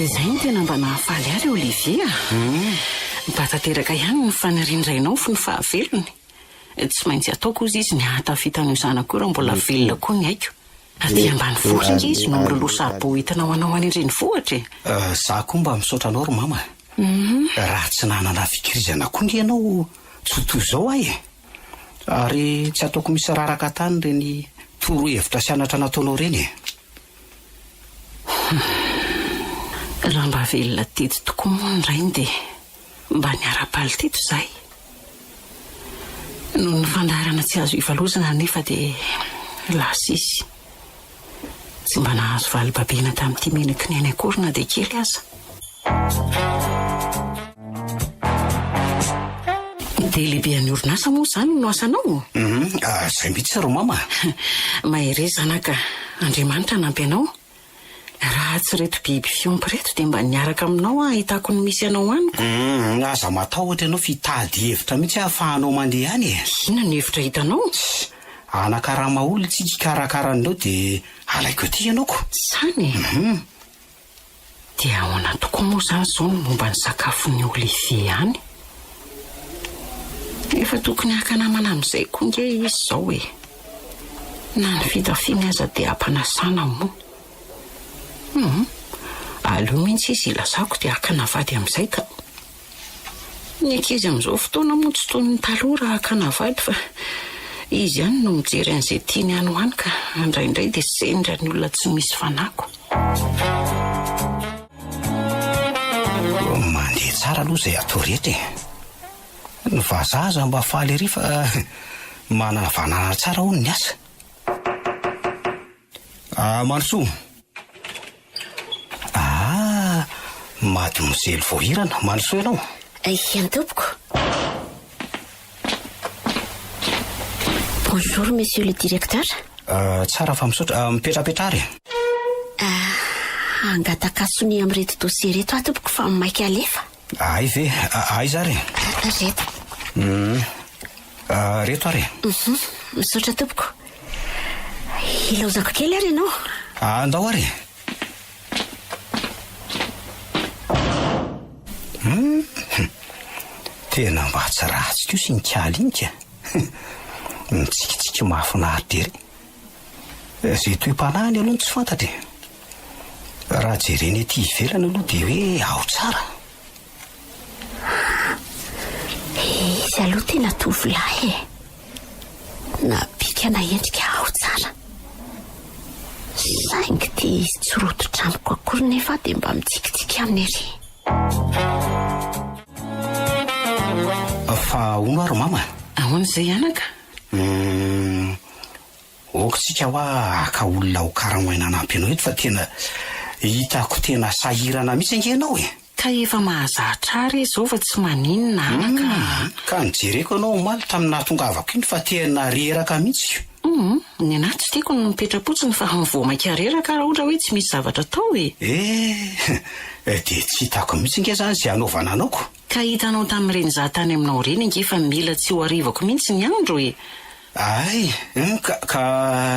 Dia izay no tena mba nahafaly ahy ry Olivier a! Mba tanteraka ihany ny fanirian-drainao fony fahavelony. Tsy maintsy ataoko hozy izy ny hahatafita an'io zanako io raha mbola velona koa ny aiko. Aty ambanivohitra ange izy no miloloha saribao hoentina ho anao any an-drenivohitra e! Izaho koa mba misaotra anao ry Mama a! Raha tsy nanana fikirizana koa ange ianao tsy ho toy izao aho e! Ary tsy ataoko misy raraka tany ireny torohevitra sy anatra nataonao ireny e! Raha mba velona teto tokoa moa ny rainy dia mba niara-paly teto izahay. Noho ny fandaharana tsy azo ivalozana anefa dia lasa izy. Tsy mba nahazo vali-babena tamin'ity menaky ny ainy akory na dia kely aza. Dia lehibean'ny orinasa moa izany no asanao? Hum, ah, izay mihitsy ry mama. Mahereza zanaka, Andriamanitra hanampy anao. Raha tsy ireto biby fiompy ireto dia mba niaraka aminao aho hahitako ny misy anao any ko. Hum, aza matahotra ianao f'hitady hevitra mihitsy aho ahafahanao mandeha any e. Inona no hevitra hitanao? Tssy, hanakarama olona isika hikarakara an'ireo dia halaiko aty ianao ko. Izany e. Hum. Dia ahoana tokoa moa izany izao ny momba ny sakafon'i Olivier any? Efa tokony haka namana amin'izay koa ange izy izao e! Na ny fitafiany aza dia ampanasana moa. Hum, aleo mihitsy izy ilazako dia hakana vady amin'izay ka! Ny ankizy amin'izao fotoana moa tsy toy ny taloha raha hakana vady fa izy ihany no mijery an'izay tiany any ho any ka indraindray dia sendra ny olona tsy misy fanako. Mandeha tsara aloha izay atao rehetra e! Ny vazaha aza mba faly ery fa manana vanana tsara hono ny asa. Ah, Mandrosoa. Ah, Mademoiselle Voahirana, Mandrosoa ianao. Aihany tompoko. Bonjour Monsieur le Directeur. Ah, tsara fa misaotra. Ah, mipetrapetra ary. Ah, hangataka sonia amin'ireto dossier ireto aho tompoko fa maika alefa. Ahay ve? Aiza ary e? Ry reto. Hum. Reto ary e? Uhum. Misaotra tompoko. Hilaozako kely ary ianao. Andao ary e. Tena mba tsy ratsy kosa iny kalinika. Mitsikitsiky mahafinaritra ery. Izay toe-panahiny aloha no tsy fantatra e! Raha jerena ety ivelany aloha dia hoe ao tsara. Izy aloha tena tovolahy e! Na bika na endrika ao tsara. Saingy dia izy tsy rototra amiko akory nefa dia mba mitsikitsiky aminy ery. Fa ahoana ary mama? Ahoana izay anaka? Humm ok tsika hoa haka olona ho karamoina hanampy anao eto fa tena hitako tena sahirana mihitsy ange ianao e! Ka efa mahazatra ary izao fa tsy maninona ana ka! Humm ka nijereko ianao omaly tamin'ny nahatongavako iny fa tena reraka mihitsy ka! Humm ny anah tsy tiako ny mipetra-potsiny fa mivoha maika reraka raha ohatra hoe tsy misy zavatra atao e! Ehh dia tsy hitako mihitsy ange izany izay hanaovana anao ko! Ka hitanao tamin'ireny za tany aminao ireny ange fa mila tsy ho arivako mihitsy ny andro e! Ay! Humm ka ka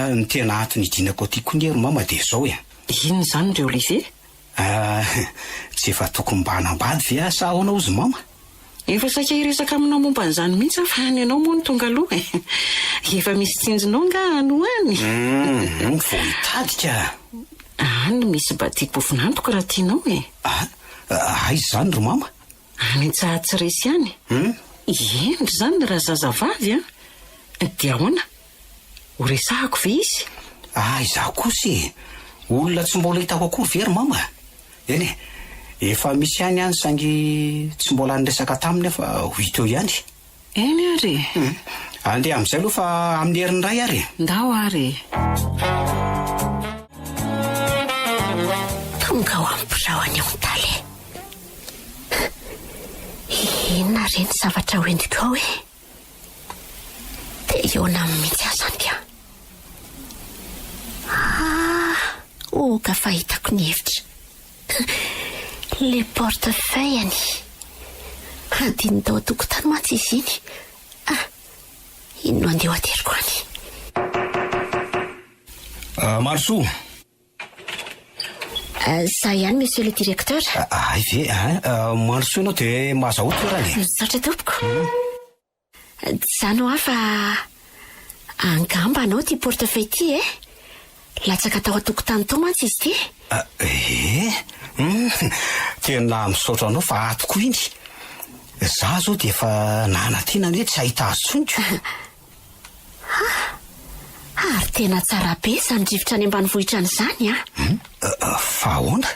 ny tena antony hidinako aty koa nge ry mama dia izao e! Inona izany ry Olivier? Ah! Tsy efa tokony mba hanambady ve aho sa ahoana hozy mama? Efa saika hiresaka aminao momba an'izany mihitsy aho fa ny anao moa no tonga aloha e! Efa misy tsinjonao angaha any ho any? Humm vao hitady ka! Any misy batiam-pofon'antoko raha tianao e! Ah! Aiza izany ry mama? Any Antsahatsiresy any. Eny ry zany raha zazavavy an! Dia ahoana? Ho resahako ve izy? Ah izaho kosa e! Olona tsy mbola hitako akory ve ry mama? Eny e! Efa misy ihany any saingy tsy mbola niresaka taminy aho fa ho hita eo ihany. Eny ary e! Hum. Andeha amin'izay aloha fa amin'ny herin'ny iray ary e! Ndao ary e! Tonga ao amin'ny birao an'i Ontale. Inona re ny zavatra ho entiko ao e? Te hihaona aminy mihitsy aho izany ka. Ah! Oka fa hitako ny hevitra. Le porte feuille anie hadinony tao an-tokotany mantsy izy iny ah! Iny no andeha ho ateriko any. Ah, Marosoa! Ah, za ihany monsieur le directeur. Ah, hay ve, hein? Marosoa ianao dia mahazahoa toerana e! Misaotra tompoko. Zany hoa fa angamba anao ity portefeuille ity eh? Latsaka tao an-tokotany tao mantsy izy ity. Eh! Humm! Tena misaotra anao fa ato koa iny. Za zao dia efa nanantena anie tsy hahita azy tsony ko. Ha! Ary tena tsara be izany rivotra any ambanivohitra any izany an! Hum? Fa ahoana?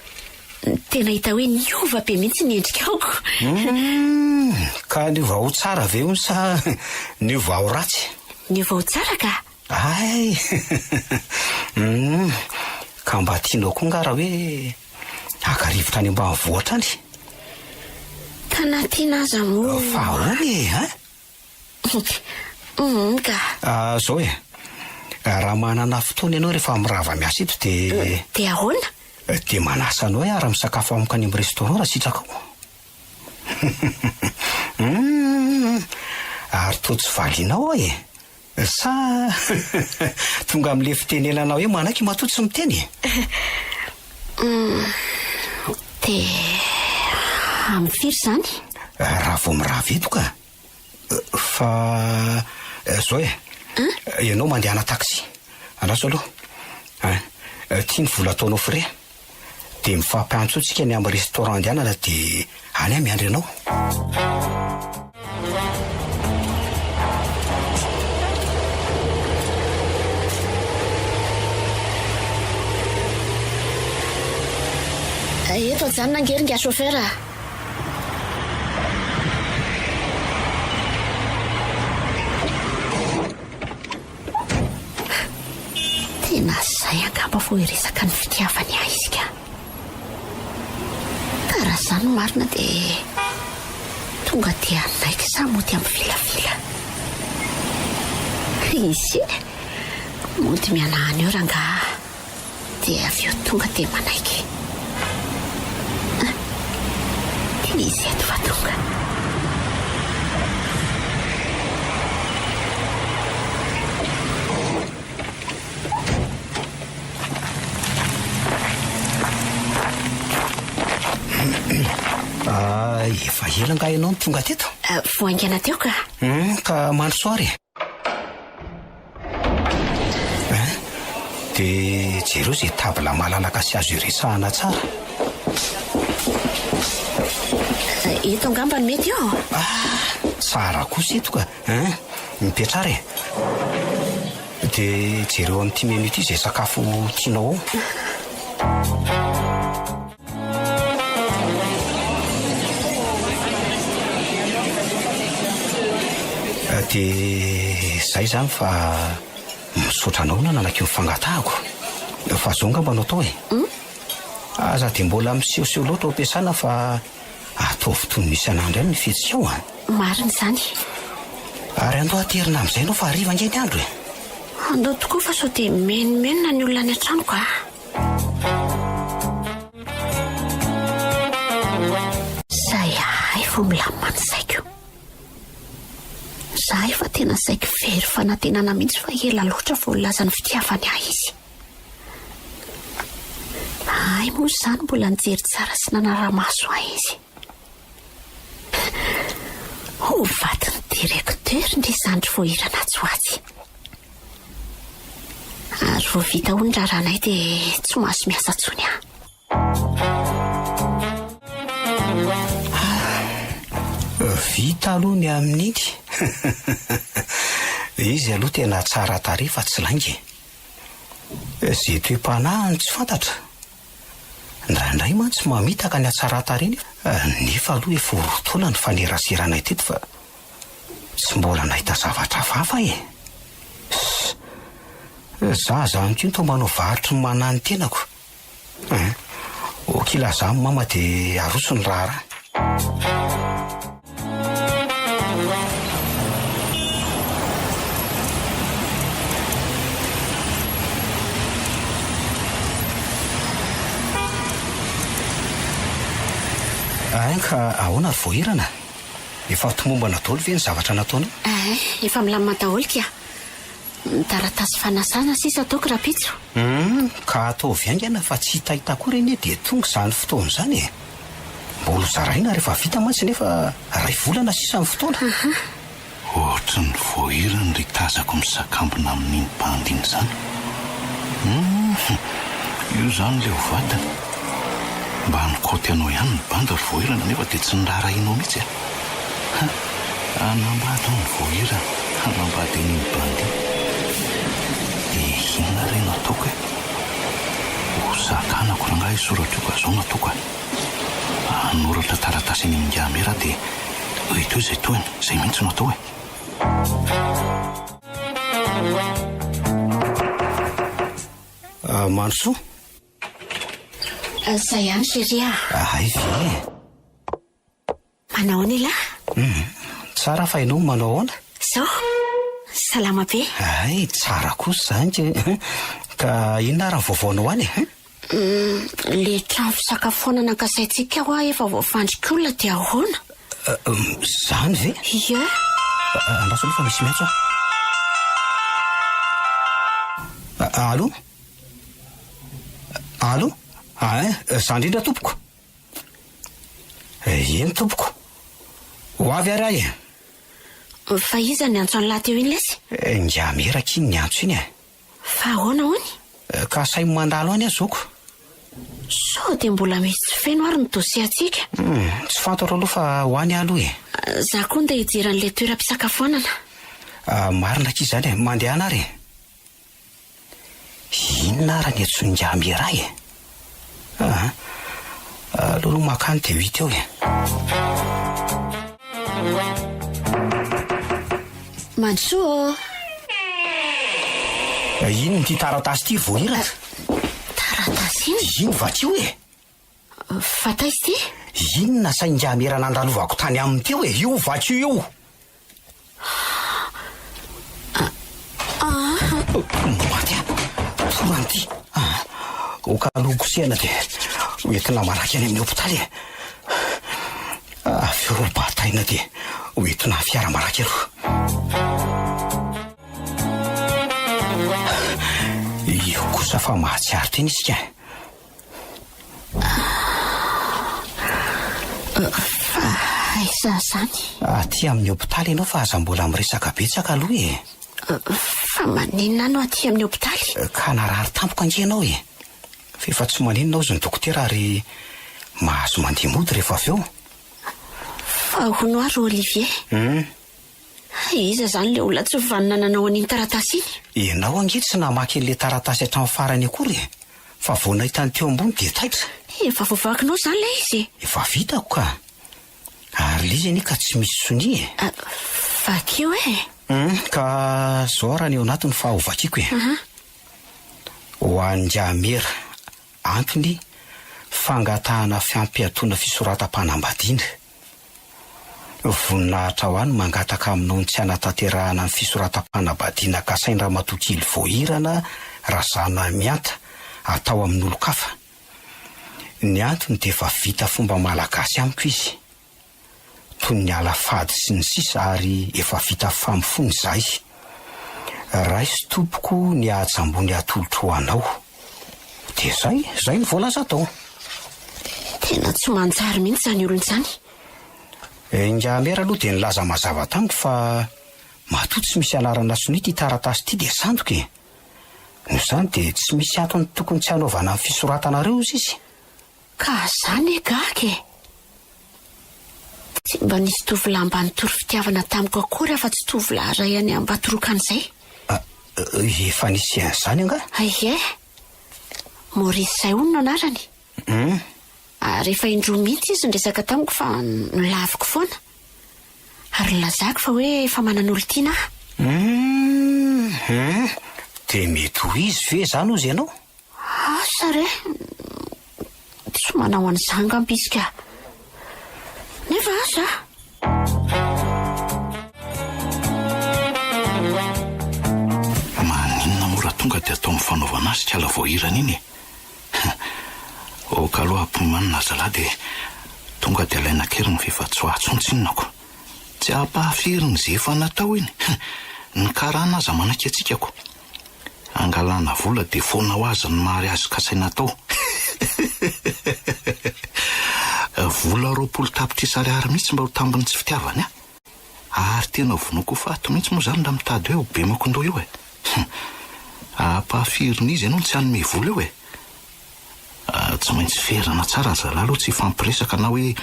Tena hita hoe niova be mihitsy ny endrika aoko. Hum! Ka niova ho tsara ve hono sa niova ho ratsy? Niova ho tsara ka! Hay! Hum! Ka mba tianao koa angaha raha hoe haka rivotra any ambanivohitra any? Ka na tiana aza moa. Fa ahoana e? Its. Humm ka. Ah zao e. Raha manana fotoana ianao rehefa mirava miasa eto dia. Dia ahoana? Dia manasa anao hiara misakafo amiko any amin'ny restaurant raha sitrakao. Humm. Ary toa tsy valianao aho e. Sa tonga amin'ilay fitenenana hoe manaiky matoa tsy miteny e? Dia amin'ny firy izany? Raha vao mirava eto ka. Fa izao e, ianao mandeha ana-taxi. Andraso aloha. Tia ny vola ataonao frais. dia mifampiantso tsika any amin'ny restaurant andehanana dia any aho miandry anao. Eto ajanona ange ry nga chauffeur a. Tena zay angamba vao hiresaka ny fitiavany ahy isika. Ka raha zany no marina dia tonga dia hanaiky sa mody hampivilavila. Ise, mody mianahana eo rangaha. dia avy eo tonga dia manaiky. Ah, dia nisy eto fa tonga. Ah, efa ela nga ianao no tonga teto? Ah, vao haingana teo ka. Hmm, ka mandrosoa ary. Dia jereo izay table malalaka sy azo iresahana tsara. Eh, eto angamba no mety eo. Ah, sahara kosa eto ka. Hein? Mipetrara e. Dia jereo amin'ity menu ity izay sakafo tianao ao. Dia izay izany fa misaotra anao na nanaky ny fangatahako. Fa zao ngamba no atao e. Hmm? Aza dia mbola misehoseho loatra ao am-piasana fa ataovy toy ny isan'andro ihany ny fihetsikao an. Ah. Marina izany. Ary andao aterina amin'izay ianao fa hariva ange ny andro e. Andao tokoa fa sao dia menomenona ny olona any an-tranoko ah. Izay ahay vao milamina ny saiko. Izaho efa tena saiky very fanantenana mihitsy fa ela loatra vao nilaza ny fitiavany ahy izy. Ahay moa izany mbola nijery tsara sy nanara-maso ahy izy. Ho vadin'ny directeur ndry zandry voahirana atsy ho atsy. Ary vao vita hono raharahanay dia tsy mahazo miasa tsony aho. Vita aloha ny amin'iny. Izy aloha tena tsara tarehy fa tsy lainga e. Izay toe-panahiny tsy fantatra. Indraindray mantsy mamitaka ny hatsaran-tarehiny aho nefa aloha efa ho roa taona nifaneraseranay teto fa tsy mbola nahita zavatra hafahafa aho e! Izaho izany koa toa manao varotry ny manahy ny tenako e! Ok lazao amin'i Mama dia aroso ny raharaha. Ain ka ahoana ry voahirana? Efa tomombana daholo ve ny zavatra nataonao? Ain, efa milamina daholo kia. Ny taratasy fanasana sisa ataoko rapitso. Humm ka ataovy haingana fa tsy hitaita akory anie dia tonga izany fotoana izany e! Mbola ho zaraina rehefa vita mantsy nefa iray volana sisa ny fotoana. Ahaa. Ohatry ny voahirany ry tazako misakambina amin'iny bandy iny izany. Humm io izany ilay ho vadiny. Mba hanikaoty anao ihany ny bandy ry voahirana nefa dia tsy niraharahianao mihitsy e! Ha! Hanambady hono vao hirany, hanambady an'iny bandit. Dia inona re no ataoko e? Ho zakanako rangahy hisoratra io ka izao no ataoko a! Hanoratra taratasy eny amin'ny ingahy aho dia eo toy izay tohiny, izay mihitsy no atao e! Mandrosoa! Izay ihany chérie a! Hay ve e! Manao ahoana ialahy? Hum, tsara fa ianao manao ahoana? Zao? Salama be. Hay, tsara kosa izany kay eh! Ka inona ary ny vaovaonao any eh? Hum, ilay trano fisakafoanana ankasaintsika hoa efa voafandrika olona dia ahoana? Hum, izany ve? Ie. Andraso aloha fa misy miantso aho. Allo? Allo? Ain, za indrindra tompoko. Eh, eny tompoko. Ho avy ary ahy eh. Fa iza ny antso an'lah teo iny lesy? Eh, ingahy Meraka iny ny antso iny eh. Fa ahoana hono? Eh, ka asaimo mandalo any aho zoky. Sao dia mbola misy tsy feno ary ny dosiantsika? Hum, tsy fantatro aloha fa ho any aho aloha eh. Za koa ndeha hijery an'ilay toeram-pisakafoanana. Ah, marina akia izany eh. Mandehana ary eh. Inona ary ny antsoin'i Njambi iray e? Ah, aleo aloha makany dia ho hita eo e. Mandrosoa ô. Inona ity taratasy ity voahiratra? Taratasy inona? Iny vakio e. Fa taiza ity? Inona saingamera nandalovako tany aminy teo e? Io vaky io io! Maty aho! Torana ity! Hokaloko kosehana dia hoentina malaky any amin'ny hopitaly e! Avy eo bataina dia hoentina fiara malaky aloha! Io kosa fa mahatsiaro tena isika! Aiza izany? Aty amin'ny hopitaly ianao fa aza mbola miresaka betsaka aloha e! Fa maninona no aty amin'ny hopitaly? Ka narary tampoka ange ianao e! Fa efa tsy maninona hozy ny dokotera ary mahazo mandeha mody rehefa avy eo. Fa hono ary Olivier? Hum. Hay iza izany ilay olona tsy vanona nanao an'iny taratasy iny? Ianao ange tsy namaky an'ilay taratasy hatramin'ny farany akory e! Fa vao nahita ny teo ambony dia taitra! Efa voavakinao izany ilay izy e! Efa vitako ka! Ary ilay izy anie ka tsy misy sonia e! Ah, vakio e! Hum, ka izao ary ny ao anatiny fa ho vakiako e! Aha. Ho an-dRamera, antony, fangatahana fiampiatoana fisoratam-panambadiana. Voninahitra ho any mangataka aminao ny tsy hanatanterahana ny fisoratam-panambadiana kasain-dRamatoa Kely Voahirana Razanamianta atao amin'olon-kafa. Ny antony dia efa vita fomba malagasy amiko izy. Toy ny ala fady sy ny sisa ary efa vita famofoana izahay. Raiso tompoko ny haja ambony atolotro ho anao. Dia izay, izay ny voalaza tao. Tena tsy manjary mihitsy izany olona izany. Ingahy Mère aloha dia nilaza mazava tamiko fa matoa tsy misy anarana sonia ity taratasy ity dia sandoka e. Noho izany dia tsy misy antony tokony tsy hanaovana ny fisoratanareo hozy izy. Ka za ne gaga e! Tsy mba nisy tovolahy mba nitory fitiavana tamiko akory afa tsy tovolahy iray any Ambatorokana izay. Ah, efa nisy an'izany angaha? Ie. Maurice izay hono no anarany. Hum. Ary efa indroa mihitsy izy niresaka tamiko fa nolaviko foana. Ary nilazako fa hoe efa manana olon-tiana aho. Hum, hum. Dia mety ho izy ve izany hozy ianao? Asa re! Tsy manao an'izany ngamba izy ka! Nefa asa a! Maninona moa raha tonga dia atao mifanaovana azy tsy ala voahirana iny e! Aoka aloha ampihomanina aza lahy dia tonga dia alaina an-keriny fa efa tsy ho ahy tsony tsinonako. Tsy ampahafirin'izay efa natao iny! Ny karana aza manaiky hatsikako. Hangalana vola dia foana ho azy ny mariazy kasaina atao. Vola roapolo tapitrisa ariary mihitsy mba ho tambin'ny tsy fitiavany an! Ary tena vonoiko ho faty mihitsy moa izany raha mitady hoe ho bemakon-doha io e! Ampahafirin'izy ianao ny tsy hanome vola eo e! Tsy maintsy ferana tsara ry zalahy aloha tsy hifampiresaka na hoe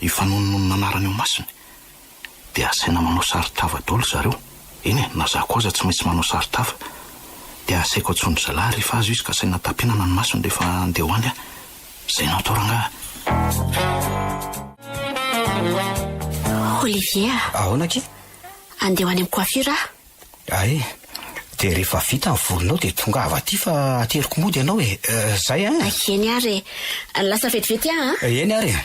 hifanonononona anarana eo masony. dia asaina manao saron-tava daholo zareo, eny e, na za koa aza tsy maintsy manao saron-tava, dia asaiko antsoin-dry zalahy rehefa azo izy ka asaina tapenana ny masony rehefa handeha ho any aho, izay no atao rangahy a. Olivier a! Ahoana akia? Handeha ho any amin'ny coiffure aho. Hay, dia rehefa vita ny volinao dia tongava aty fa ateriko mody ianao e. Izay an! Eny ary e. Lasa vetivety aho an! Eny ary e.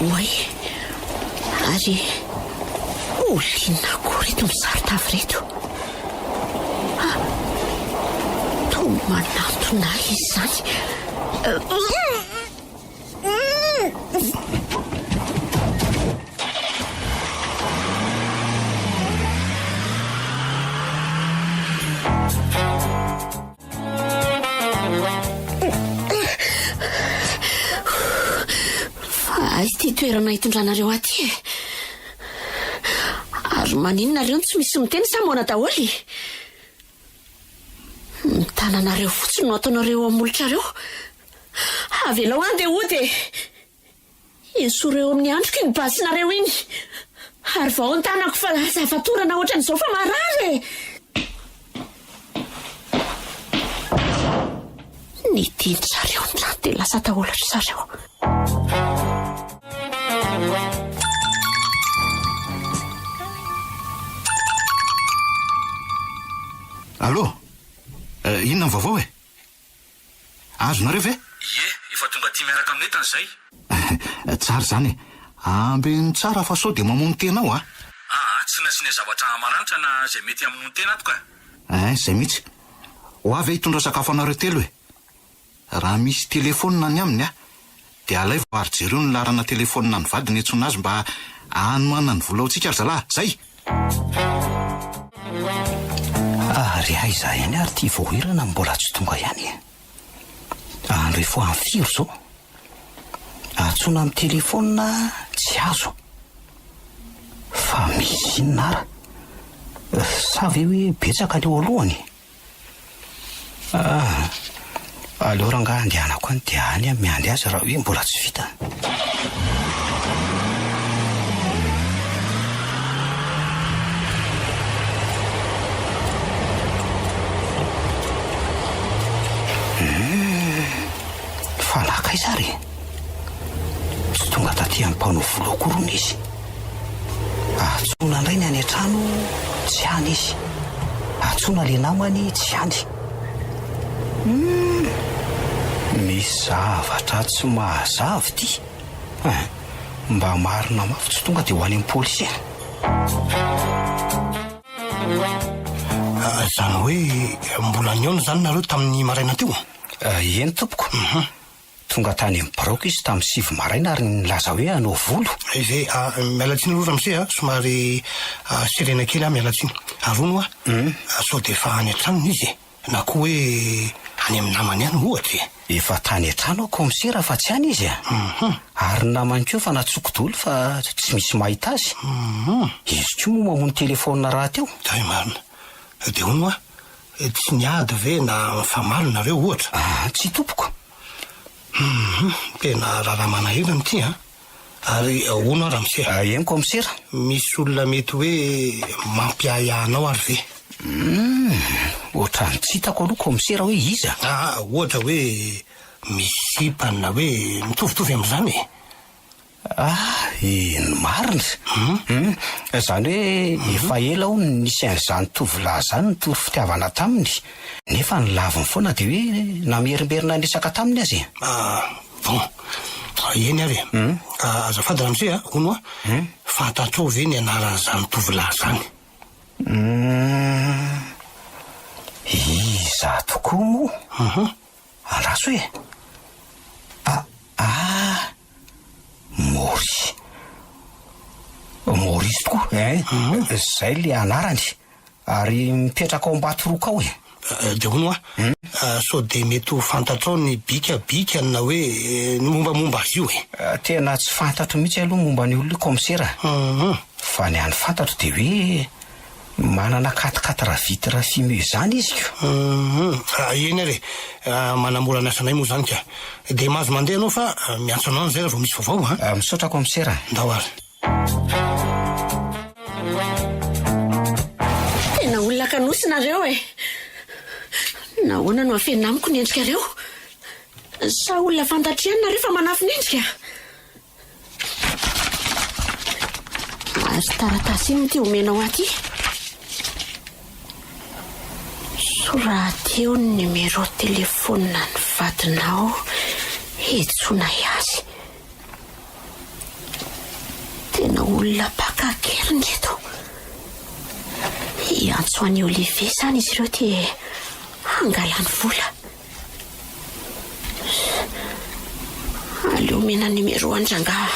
Oay, ary olona akory eto misaro tavy ireto? Toa manatona ahy izany. Fa aiza ity toerana itondranareo aty e? Ary maninona reo no tsy misy miteny sa moana daholo e? Ny tananareo fotsiny no ataonareo eo amin'ny molotrareo. Avelao aho ndeha hody e! Esoreo eo amin'ny andriko iny basinareo iny. Ary vao ny tanako fa lasa fatorana ohatran'izao fa marary e! Ny dian-dry zareo ny rano dia lasa daholo ry zareo. Allô? Eh, inona ny vaovao e? Azonareo ve? Ie, efa tonga aty miaraka amin'ny entana izay. Tsara izany e! Ambeno tsara fa sao dia mamono tena ao a! Aa, tsy nasiana zavatra maranitra na izay mety hamono tena ato ka! Ein, izay mihitsy. Ho avy aho hitondra sakafo anareo telo e! Raha misy telefaonina any aminy aho Dia alaivo ary jereo ny laharana telephone an'ny vadiny hiantsoana azy mba hanohanany vola ho antsika ry zalahy. Zay! Ary aiza ihany ary ity voahirana no mbola tsy tonga ihany e? Any rehefa any firy izao? Antsoina amin'ny telephone tsy azo. Fa misy inona ara? Sa ve hoe betsaka ny eo alohany? Ah! Aleo rangahy andehanako any dia any aho miandry azy raha hoe mbola tsy vita. Hum! Fa nakaiza ary? Tsy tonga taty amin'ny mpanao volo akory hono izy. Antsoina indray ny any an-trano, tsy any izy. Antsoina ilay namany, tsy any. Humm! Misy zavatra tsy mahazava ity eh! Mba marina mafy tsy tonga dia ho any amin'ny polisy eh! Izany hoe mbola nihaona izany nareo tamin'ny maraina teo? Eny tompoko. Tonga tany amin'ny biraoko izy tamin'ny sivy maraina ary nilaza hoe hanao volo. Izay, miala tsiny aloha ramose a, somary serena kely aho, miala tsiny. Arono hoa, sao dia efa any an-tranony izy e? Na koa hoe any amin'ny namany any, ohatra e? Efa tany an-trano aho kaomisera fa tsy any izy a! Ary ny namany koa efa natsoiko doly fa tsy misy mahita azy. Izy koa moa mamono telefaonina rahateo. Hay marina. Dia hono hoa? Tsy niady ve na nifamaly nareo ohatra? Ah, tsy tompoko. Hum, tena raharaha manahirana ity an! Ary ahoana aho ramose? Ah, eny kaomisera. Misy olona mety hoe mampiahiahy anao ary ve? Hum, ohatran'ny tsy hitako aloha kaomisera hoe iza. Ah, ohatra hoe misy sipany na hoe mitovitovy amin'izany e! Ahy ny marina hum izany hoe efa ela aho no nisy an'izany tovolahy izany nitory fitiavana taminy nefa ny laviny foana dia hoe namerimberina niresaka taminy aza e. Bon, eny ary e. Azafady ramose a, hono a, fantatrao ve ny anaran'izany tovolahy izany? Hum, iza tokoa moa? Ah la soa e! Ah ah! Maurice. Maurice tokoa ein! Izay le anarany. Ary mipetraka ao Ambatoroka ao e! Dia hono hoa, sao dia mety ho fantatrao ny bikabikany na hoe ny mombamomba azy io e? Tena tsy fantatro mihitsy aloha momba an'io Komisera. Fa ny an'ny fantatro dia hoe. Manana quatre quatre vitres fumées izany izy ko. Humm eny ary e! Manamora ny asanay moa izany ka! Dia mahazo mandeha ianao fa miantso anao any izay raha vao misy vaovao an! Misaotra Commissaire a! Ndao ary! Tena olona kanosy nareo e! Nahoana no afenina amiko ny endrikareo? Sa olona fantatr'ianona re fa manafin'endrika? Ary taratasy inona ity omenao ahy ity? Soraty eo ny numéro téléphone ny vadinao hejonay azy. Tena olona mpaka kely ny eto. Hiantso an'i Olivier izany izy ireo dia hangalany vola. Aleo omena numéro an'i rangahy.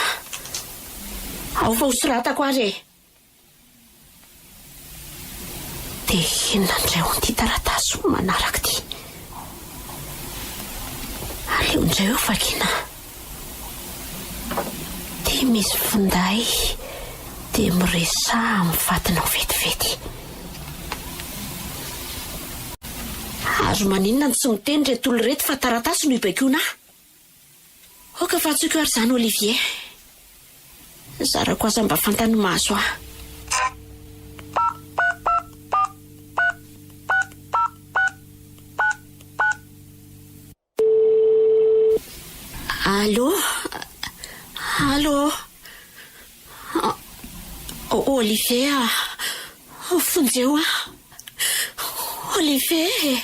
Ao fa hosoratako ary e. Dia inona indray hono ity taratasy manaraka ity? Aleo indray hovakiana. dia misy finday dia miresaha amin'ny fatinao vetivety. Ary maninona no tsy miteny ireto olona ireto fa taratasy no ibaikoana ahy? Aoka fa antsoiko ary izany Olivier. Zarako aza mba fantany mahazo ahy. Allo? Allo? Olivier a! Vonjeo aho! Olivier e!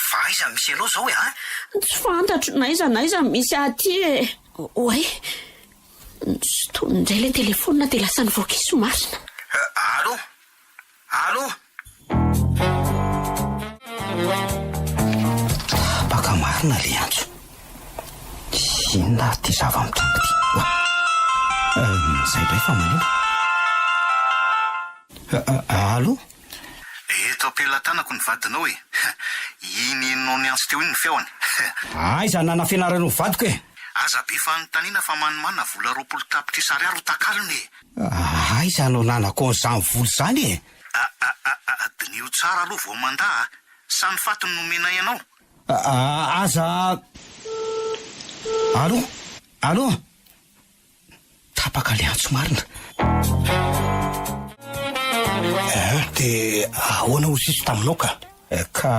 Fa aiza no misy anao izao e an! Tsy fantatro na aiza na aiza no misy ahy aty e! Oay! Nisotony indray ilay telefaonina dia lasa nivoaka izy marina. Allo? Allo! Tapaka marina le antso. Inona ary ty zava-mitranga ty? Oa! Izay indray fa maneno. Allo! Eto am-pelatanako ny vadinao e! Iny inona niantso teo iny ny feony. Aiza nanafenarana ho vadiko e! Aza be fanontaniana fa manimana vola roapolo tapitrisa ariary ho takalony e! Ah, aiza no nanako an'izany vola izany e? Ah-ah-ah-ah, diniho tsara aloha vao mandà a! Sa ny faty no nomenay anao? Ah-ah, aza a! Allo? Allo? Tapaka ilay antso marina. Eh, dia ahoana hozy izy taminao ka? Eh, ka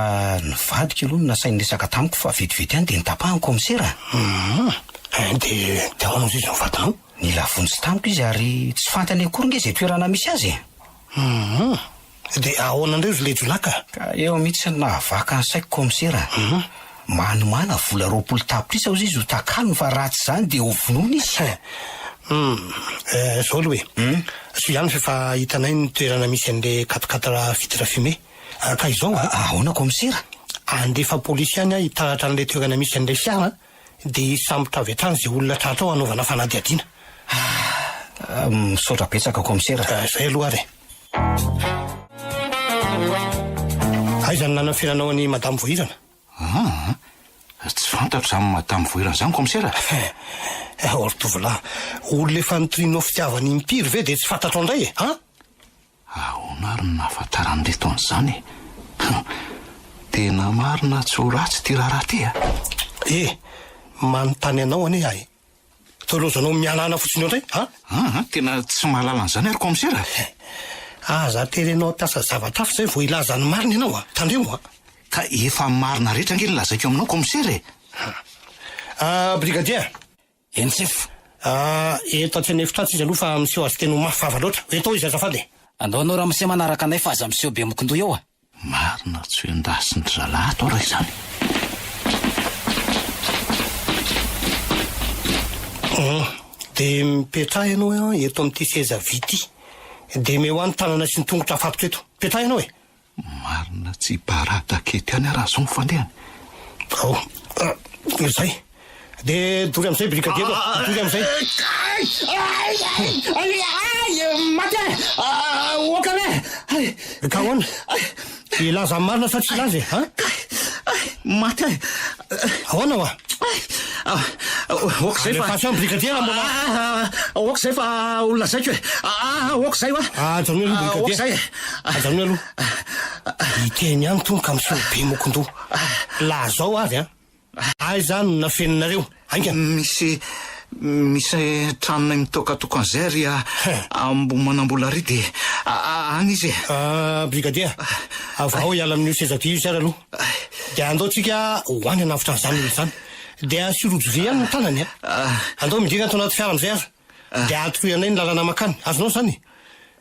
ny vadiko aloha no nasainy niresaka tamiko fa vetivety ihany dia nitapahany kaomisera. Hum, eh, dia dia ahoana hozy izy ny vadinao? Nila vonjy tamiko izy ary tsy fantany akory nge izay toerana misy azy e! Hum! Dia ahoana indray ry lejolahy ka? Ka eo mihitsy no nahavaka ny saiko kaomisera a! Hum! Manomàna vola roapolo tapitrisa hozy izy ho takalony fa raha tsy izany dia ho vonoina izy! He! Hum! Eh, izao aloha e! Hum! Soa ihany fa efa hitanay ny toerana misy an'ilay quatre quatre vitres fumées ka izao a! Ahoana kaomisera? Handefa polisy ihany aho hitaratra an'ilay toerana misy an'ilay fiara an! Dia hisambotra avy hatrany izay olona tratrao hanaovana fanadihadiana. Ah! Misaotra betsaka Kaomisera. Ah, izay aloha ary e. Aiza no nanafenanao an'i Madame Voahirana? Hum! Tsy fantatro izany Madame Voahirana izany Kaomisera. Hum! Ry tovolahy, olona efa nitorianao fitiavana im-piry ve dia tsy fantatrao indray e? An? Ahoana ary no nahafantaran'ireto an'izany e? Hum! Tena marina tsy ho ratsy ity raharaha ity a! E! Manontany anao anie aho e! Toa lozanao miala ana fotsiny eo indray a! An! Tena tsy mahalala an'izany ary kaomisera e! Aza aterenao hampiasa zavatra hafa izay vao hilaza ny marina ianao a! Tandremo a! Ka efa marina rehetra ange ny lazaiko aminao kaomisera e! An! An! Brigadier! Eny sefo. Ah, eto aty an efitra atsy izy aloha fa miseho azy teny ho mafy vava loatra. Ho eto ao izy azafady e. Andao anao ramose manaraka anay fa aza miseho be mokondoha eo a. Marina tsy ho endasin dry zalahy ato raha izany. Hum, dia mipetraha ianao an eto amin'ity seza vy ity. Dia meo an ny tanana sy ny tongotra afatotra eto. Mipetraha ianao e. Marina tsy barada kety any raha zao ny fandehany. Ao ka dia izay. Dia dory amin'izay brigadier ô! Dory amin'izay. Ay! Ay! Maty aho e! Aoka re! Ay! Ka ahoana? Hilaza ny marina sa tsy hilaza e? An? Kay! Ay! Maty aho e! Ahoana hoa? Aoka izay fa. Alefaso any brigadier raha mbola. Aoka izay fa ho lazaiko e. Aoka izay hoa. Ajanony aloha brigadier. Aoka izay e. Ajanony aloha. Hiteny ihany tony ka misolo be mokon-doha. Laha zao avy an. Aiza no nafeninareo? Ainga. Misy misy tranonay mitokatoko an'izay ary Ambohimanambola ary dia any izy e. Brigadier, avao hiala amin'io seza vy io sy ary aloha. Dia andao tsika ho any hanavotra an'izany olona izany. Dia asio rojo vy ihany ny tanany a. Ah. Andao midina ato anaty fiara amin'izay aza. Ah. Dia atoroy anay ny lalana makany. Azonao izany?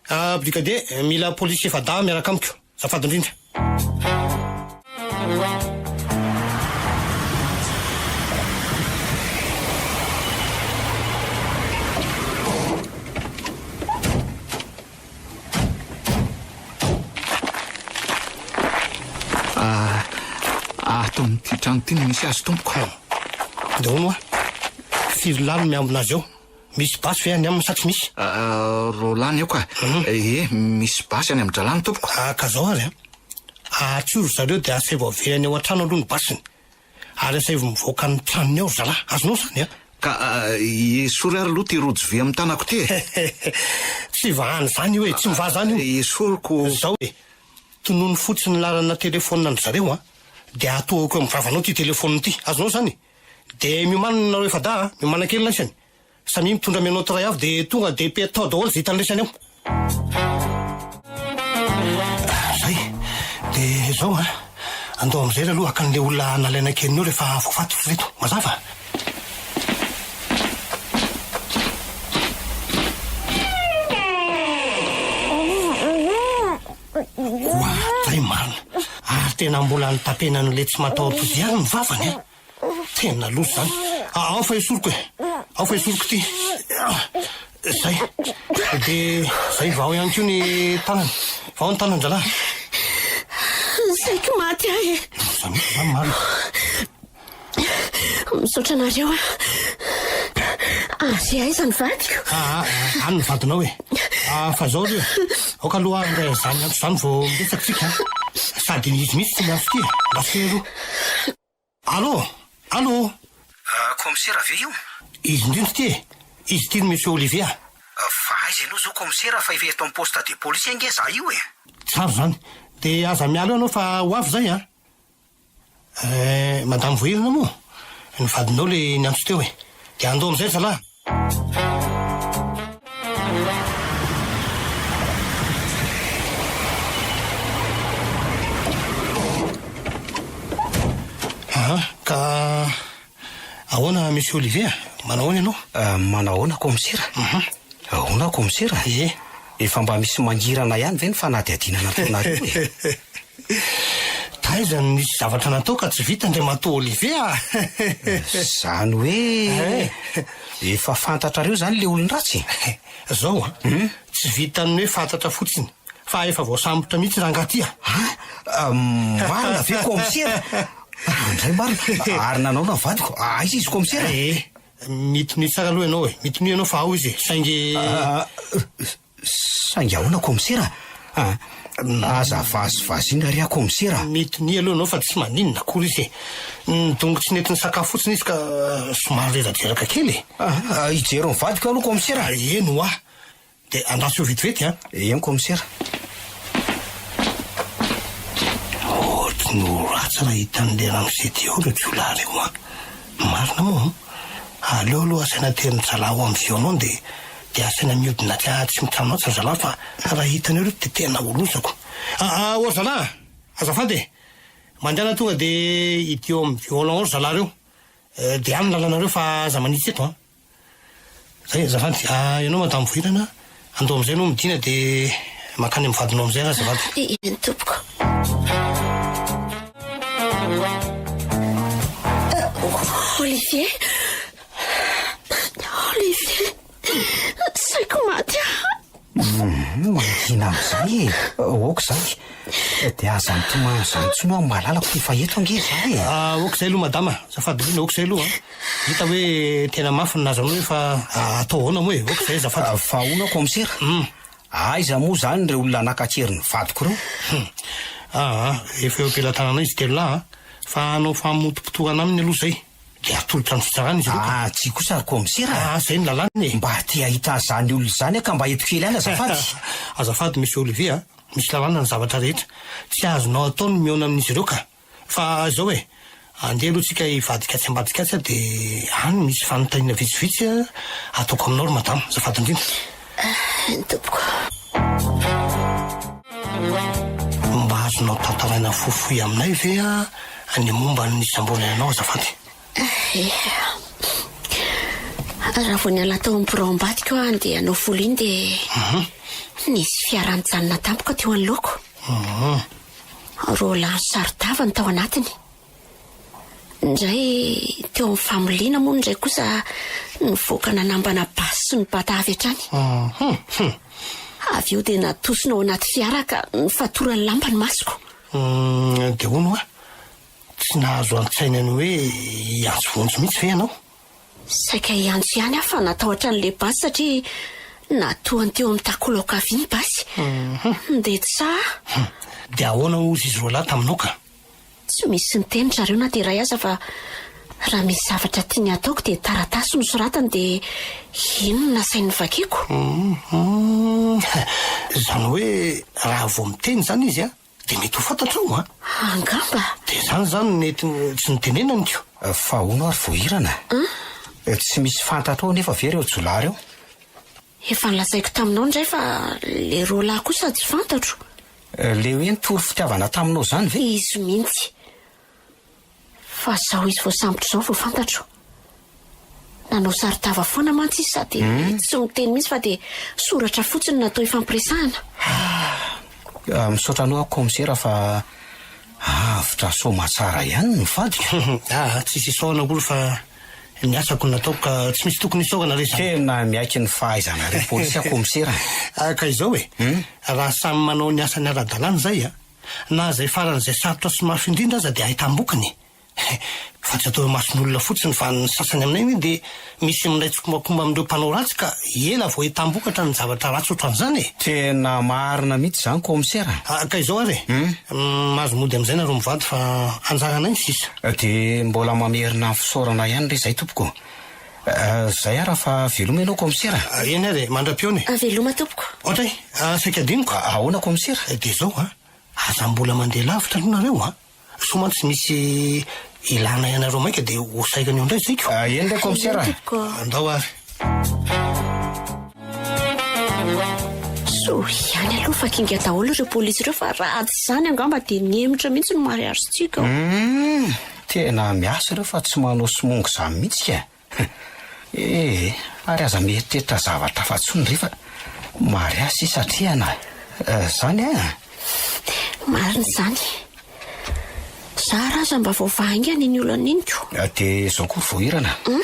Ah, Brigadier, mila polisy efa-dahy miaraka amiko. Azafady indrindra. Ato amin'ity trano ity no misy azy tompoko. Dia hono hoa, firy lahy no miambina azy ao? Misy basy ve any aminy sa tsy misy? Roa lahy ny ao ka. Ee, misy basy any amin-drahalahy ny tompoko. Ka zao ary an! Ahatsory ry zareo dia asevo averany ao an-trano aloha ny basiny. Ary asaivo mivoaka ny tranony ao ry zalahy, azonao izany an! Ka esory ary aloha ity rojo vy amin'ny tanako ity e! Tsy vahana izany io e! Tsy mivaha izany io! Esoriko! Izao e! Tonony fotsiny ny laharana telefonina an-dry zareo an! Dia atohako eo amin'ny vavanao ity telefonina ity, azonao izany e! Dia miomanana nareo efa-dahy an! Miomanan-kely laisany! Samia mitondra menottes iray avy dia tonga dia pe tao daholo izay hitan'ny resany ao. Zay. Dia izao an, andao mijery aloha haka an'ilay olona nalaina kely neo rehefa avy kifaty ry reto. Mazava? Oa, zay marina. Ary tena mbola nitapena an'ilay tsy mataho-toa izay ihany ny vavany an! Tena loza izany. Ao fa esoriko e. Ao fa esoriko ity. Izay. Dia izay vao ihany koa ny tanany. Vao ny tanan-drahalahy. Saiko maty ahy e. Loza mihitsy izany marina. Misaotra anareo a. Avy aiza ny vadiko? Ah, ah, any ny vadinao e. Ah, fa izao ry e. Aoka aloha handray an'izany antso izany vao miresaka isika. Sady izy mihitsy tsy miantso ity e. Mba tsy ero. Allô! Allô! Kaomisera ve io? Izy indrindra ity e! Izy ity no Monsieur Olivia. Fa aiza ianao izao kaomisera fa efa eto amin'ny poste de police ange izaho io e! Tsara izany. Dia aza miala eo ianao fa ho avy izay an! Eh, Madame Voahirana moa? Ny vadinao ilay niantso teo e! Dia andao amin'izay ry zalahy! Aha, ka ahoana Monsieur Olivier? Manao ahoana ianao? Manahoana Kaomisera? Ahoana Kaomisera? Ie. Efa mba misy mangirana ihany ve ny fanadihadiana nataonareo e? Taiza no nisy zavatra natao ka tsy vita Andriamatoa Olivier a! Izany hoe efa fantatrareo izany ilay olon-dratsy e? Izao an, tsy vitan'ny hoe fantatra fotsiny fa efa voasambotra mihitsy rangaha ity a! An? Marina ve kaomisera? Andray marina, ary nanaona ny vadiko, aiza izy kaomisera? Mitonia tsara aloha ianao e! Mitonia ianao fa ao izy e! Saingy. Saingy ahoana komisera a? Aza vazivaziana re aho komisera a! Mitonia aloha ianao fa tsy maninona akory izy e! Ny dongo tsy nety nisakafo fotsiny izy ka somary reradraraka kely e! Hijery ny vadiko aloha komisera a! Eny hoa! Dia andraso eo vetivety an! Ehe ny kaomisera. Ohatry ny ho ratsy raha hitan'ilay ramose ty ao ireo jiolahy ireo an! Marina moa an! Aleo aloha asaina an-tery mizalaha ao amin'ny violon dia dia asaina mihodina aty an tsy mitrano atsy ry zalahy fa raha hitanao ireto dia tena ho lozako. Aa oa ry zalahy an! Azafady e! Mandehana tonga dia hidio ao amin'ny violon ao ry zalahy ireo. Dia any ny lalanareo fa aza manitsy eto an! Zay azafady, ah ianao madame Vohirana, andao amin'izay ianao midina dia mankany amin'ny vadinao amin'izay ary azafady. Dia iany tompoko. Olivier, Olivier, saiko maty aho. Mangina amin'izay e! Aoka izany. Dia aza mitomany izany intsony aho malalako ty fa eto ange izaho e! Aoka izay aloha madama, azafady indrindra, aoka izay aloha an! Hita hoe tena mafy ny nazanao io fa atao ahoana moa e! Aoka izay azafady. Fa hono aho kaomisera, aiza moa izany ireo olona nankatrery ny vadiko ireo? Hum! Aa! Efa eo am-pelatananay izy telo lahy an! Fa hanao famotopotohana aminy aloha izay. Dia atolotra amin'ny fitsarana izy ireo ka. Ah, tsia kosa ry kaomisera a! Ah, izay no lalàna e! Mba te hahita an'izany olona izany aho ka mba eto kely any azafady. Azafady Monsieur Olivier a! Misy lalàna ny zavatra rehetra. Tsy azonao atao ny mihaona amin'izy ireo ka! Fa izao e! Andeha aloha tsika hivadika atsy ambadika atsy a! Dia any misy fanontaniana vitsivitsy ataoko aminao ry madama. Azafady indrindra. Amen tompoko. Mba azonao tantaraina fohifohy aminay ve ah ny momba ny samboana ianao azafady? Raha vao niala tao amin'ny birao ambadiko aho handeha hanao volo iny dia mhm. nisy fiara nijanona tampoka teo anoloako. Mhm. Roa lahy saro-tava ny tao anatiny. Indray teo amin'ny famoliana moa indray kosa nivoaka nanambana basy sy nibata avy hatrany. Avy eo dia natosina ao anaty fiara ka nifatoran'ny lamba ny masoko. Dia hono hoa, tsy nahazo an-tsaina ny hoe hiantso vonjy mihitsy ve ianao? Saika hiantso ihany aho fa natahotra an'ilay basy satria natohany teo amin'ny takolao ankavia ny basy. Nidetsa aho. Dia ahoana hozy izy roalahy taminao ka? Tsy misy niteny zareo na dia iray aza fa raha misy zavatra tiany hataoko dia taratasy no soratany dia iny no nasainy novakiako. Izany hoe raha vao miteny izany izy an, dia mety ho fantatrao an! Angamba. Dia izany izany no nety tsy nitenenaniko. Fa hono ary voahirana a! Tsy misy fantatrao anefa ve ireo jiolahy ireo? Efa nolazaiko taminao indray fa le Roland kosa tsy fantatro. Le hoe nitory fitiavana taminao zany ve? Izy mintsy. Fa zao izy voasambotra zao vao fantatro. Nanao saron-tava foana mantsy izy sady tsy miteny mintsy fa de soratra fotsiny natao hifampiresahana. Ah, misaotra anao aho Kaomisera fa avotra soa aman-tsara ihany ny vadiko. Ah, tsisy isaorana akory fa. ny asako nataoko ka tsy misy tokony isaorana re zany. Tena miaiky ny fahaizanareo polisy aho komisera a! Ka izao e, raha samy manao ny asany ara-dalàna izay a, na izay faran'izay sarotra sy mafy indrindra aza dia ahitam-bokiny e! Fa tsy atao imason'olona fotsiny fa ny sasany aminay anie dia misy milay tsikombakomba amin'ireo mpanao ratsy ka ela vao ahitam-bokatra ny zavatra ratsy ohatran'izany e! Tena marina mihitsy izany komisera a! Ka izao ary e! Mahazo mody amin'izay nareo mivady fa anjaranay ny sisa. Dia mbola mamerina ny fisaorana ihany re izay tompoko eh. Zay ara fa veloma ianao kaomisera. Eny ary e, mandra-pihaona e. Veloma tompoko. Ohatra e, saika adinoko. Ahoana kaomisera? Dia izao an, aza mbola mandeha lavitra aloha nareo an. Sao mantsy misy ilànay anareo maika dia ho saika an'io indray zaiko. Eny re kaomisera. Andao ary. Soa ihany aloha fa kinga daholo ireo polisy ireo fa raha tsy izany angamba dia ny hemotra mihitsy no mariazintsika ao. Hum, tena miasa ireo fa tsy manao somongo izany mihitsy ka e. Eh, ary aza mieritreritra zavatra hafa intsony re fa mariazy sisa atrehana eh, izany an. Marina izany. Izaho raha aza mba voavaha haingana iny olana iny ko. Dia izao koa ry Voahirana. Hum.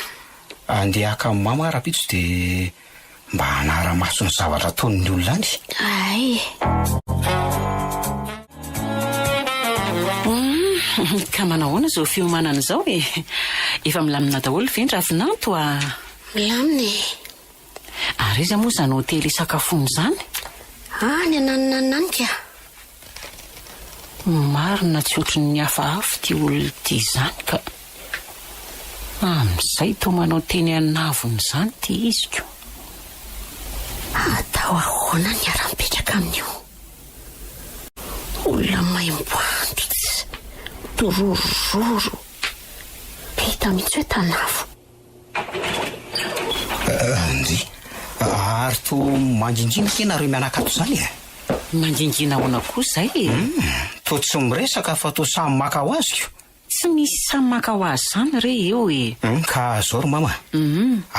Andeha haka an'i Mama aho rahampitso dia mba hanara-maso ny zavatra ataon'ny olona any. Hay e! Humm, ka manao ahoana izao fiomanana izao e? Efa milamina daholo ve ny ravinanto a? Milamina e! Ary iza moa izany hotely hisakafoana izany? Any ananonanona any kah! Marina tsy ohatry ny hafahafa ity olona ity izany ka! Amin'izay toa manao teny an'avona izany ity iziko! Atao ahoana ny hiara-mipetraka amin'io olona maimbo antitra, dorororo, be hita mihitsy hoe tanavo! Andy, ary toa mangingiana ity nareo mianakato izany e? Mangingiana ahoana koa izay e? Toa tsy miresaka fa toa samy maka ho azy ko. Tsy misy samy maka ho azy izany re eo e! Ka izao ry mama,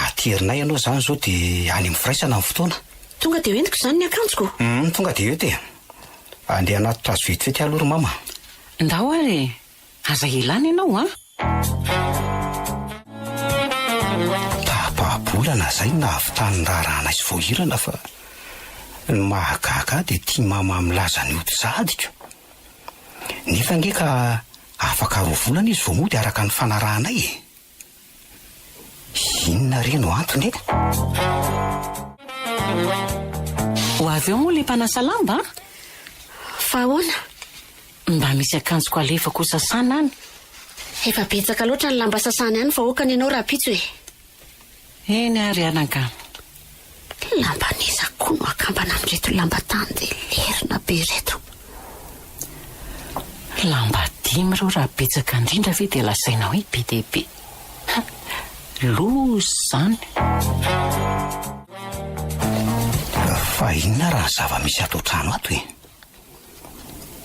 aterinay ianao izany izao dia any amin'ny firaisana ny fotoana. Tonga dia hoentiko izany ny akanjoko? Tonga dia ento e! Andeha hanatitra azy vetivety aloha ry mama. Ndao ary e! Aza hilana ianao an! Tahapahabolana izay no nahavitany ny raharahanay sy voahirana fa ny mahagaga ahy dia tia mama milaza ny ody sahadiko. Nefa ange ka afaka roa volana izy vao mody araka ny fanarahanay e! Inona re no antony e? Ho avy eo moa ilay mpanasa lamba an? Fa ahoana? Mba misy akanjoko alefako ho sasana any. Efa betsaka loatra ny lamba sasany any vahoaka ny anao rahampitso e. Eny ary anakamo. Lamban'iza koa no akambana an'ireto lamba tany dia lerina be ireto. Lamba dimy ireo raha betsaka indrindra ve dia lazaina hoe be dia be. Ha! Loza izany. Fa inona raha ny zava-misy ato an-trano ato e?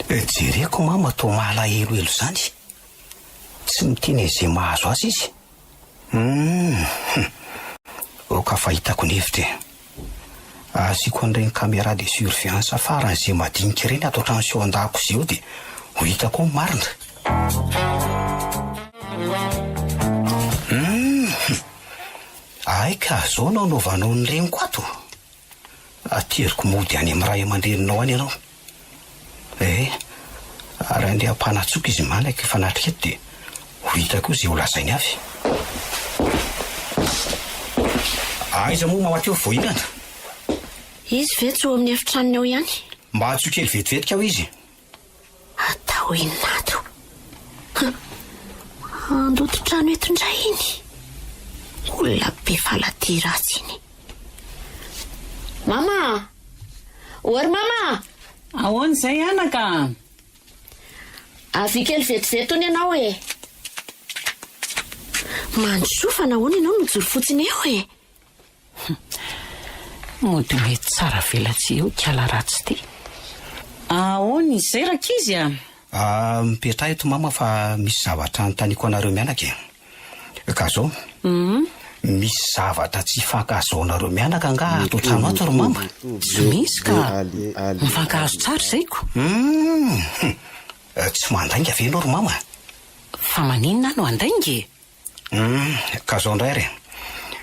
Jereko mama toa malahelohelo izany. Tsy miteny an'izay mahazo azy izy. Humm ok fa hitako ny hevitra e. Asiako an'ireny camera de surveillance farany izay madinika ireny ato an-trano sy ao an-dakozia ao dia ho hitako ao ny marina. Humm. Hay ka, zao no anaovanao ny reniko ato. Ateriko mody any amin'ny ray aman-dreninao any ianao. Ee, ary handeha hampanatsoaka izy manaka efa natrika eto dia ho hita koa izay ho lazainy avy. Aiza moa mamaky eo vao hihinana? Izy ve tsy ho amin'ny efitranony ao ihany? Mba atsoy kely vetivetika aho izy. Atao inona ato? Handoto trano eto indray iny. Olona be falatia ratsy iny. Mama! Ory mama! Ahoana izay anaka? Avy kely vetivety hono ianao e. Mandrosoa fa nahoana ianao mijoro fotsiny eo e? Humm. Mody mety tsara velatsihy eo kiala ratsy ty. Aona izay rankizy a! Ahh mipetraha eto mama fa misy zavatra anontaniako anareo mianaka e! Ka zao. Humm. Misy zavatra tsy ifankahazoanareo mianaka angaha ato an-trano ato ry mama? Tsy misy ka! Mifankahazo tsara izay ko! Humm. Tsy mandainga ve ianao ry mama? Fa maninona aho no handainga e? Humm ka zao ndray re.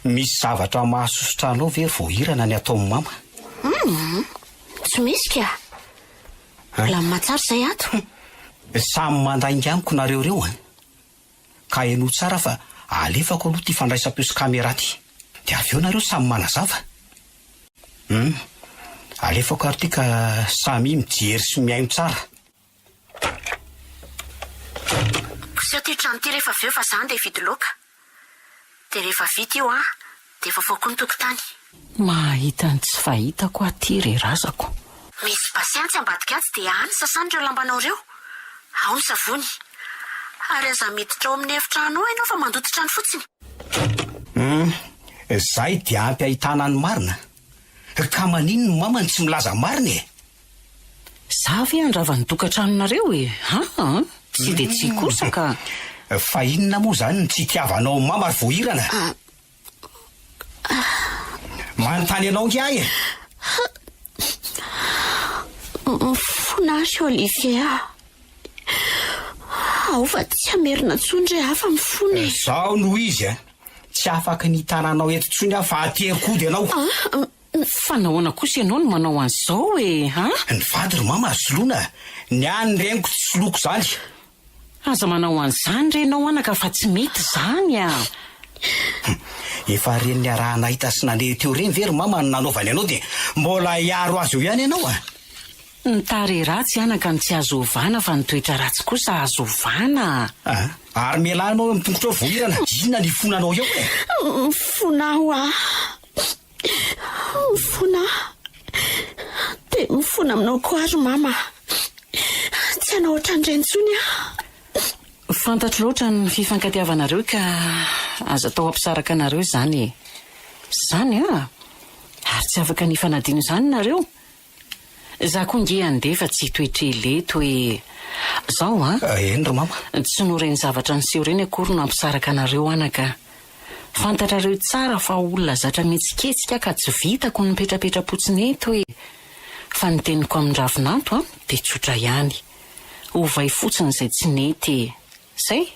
Misy zavatra mahasosotra anao ve ry voahirana ny ataon'i mama? Humm tsy misy kah. Mbola mimatsara izay ato. Samy mandainga amiko nareo reo an! Ka henoy tsara fa alefako aloha ty fandraisam-peo sy camera ty. Dia avy eo nareo samy manazava. Humm alefako ary ty ka samia mijery sy mihaino tsara. Koseho ity trano ity rehefa avy eo fa za andeha hividy laoka. Dia rehefa vita io an, dia vaovao koa ny tokotany. Mahahita ny tsy fahitako aho ity ry razako. Misy bassin tsy ambadika atsy dia any sasana ireo lambanao ireo. Ao ny savony. Ary aza miditra ao amin'ny efitrano ao ianao fa mandoto trano fotsiny. Humm, izay dia ampy ahitana ny marina. Ka manin ny maman tsy milaza marina e? Za ve handrava ny tokatranonareo e? Aa! Tsy de tsy kosa ka! Fa inona moa zany ny tsy itiavanao mama ry voahirana? Manontany anao nge ahy e! Mifona aho ry Olivier a! Aoka tsy hamerina intsony re aho fa mifona e! Zao no izy a! Tsy afaka ny hitana anao eto intsony aho fa haterim-kody ianao. Ah! Fa nahoana kosa ianao no manao an'izao e? Ah! Ny vady ry mama azo soloina, ny ahy ny reniko tsy soloiko izany. Aza manao an'izany re ianao anaka fa tsy mety izany ah! Hum! Efa reny niaraha-nahita sy nandeha teo reny ve ry mama no nanaovany anao dia mbola hiaro azy eo ihany ianao ah! Ny tarehy ratsy anaka no tsy azo ovana fa ny toetra ratsy kosa azo ovana a! Aa! Ary mialà anao eo amin'ny tongotrao voahirana! Inona no hifona anao eo e? Mifona aho aa! Mifona aho! Dia mifona aminao koa aho ry mama a! Tsy hanao ohatran'ireny intsony aho! Fantatro loatra ny fifankatiavanareo ka aza atao hampisaraka anareo izany izany a! Ary tsy afaka ny hifanadino izany nareo! Za koa nge andeha fa tsy hitohy tele toy Zao a! Eny ry mama. Tsy noho ireny zavatra niseho ireny akory no hampisaraka anareo anaka a! Fantatrareo tsara fa olona zatra mihetsiketsika aho ka tsy vitako ny mipetrapetra-potsiny eto e! Fa ny teniko amin-dRavinato a dia tsotra ihany. Ovay fotsiny izay tsy nety e! Zay?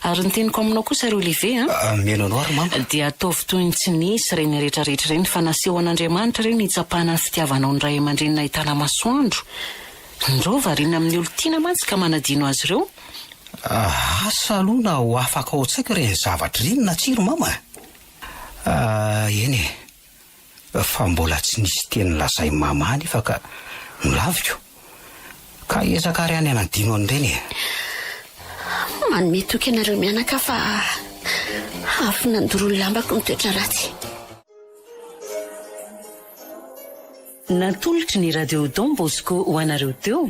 Ary ny teniko aminao kosa ry Olivier an. Mihaino anao ry mama. Dia ataovy toy ny tsy nisy ireny rehetra rehetra ireny fa naseho an'Andriamanitra ireny hitsapana ny fitiavanao ny ray aman-dreny nahitana masoandro. Ndroo variana amin'ny olon-tiana mantsy ka manadino azy ireo. Asa aloha na ho afaka ao an-tsaiko ireny zavatra ireny na tsia ry mama a. Eny e. fa mbola tsy nisy teny lazain'i Mama anefa ka nolaviko. Ka hiezaka àry any hanadino an'ireny e! Manome toky anareo mianaka fa avy nandoro ny lambako ny toetra ratsy. Natolotry ny Radio Don Bosco ho anareo teo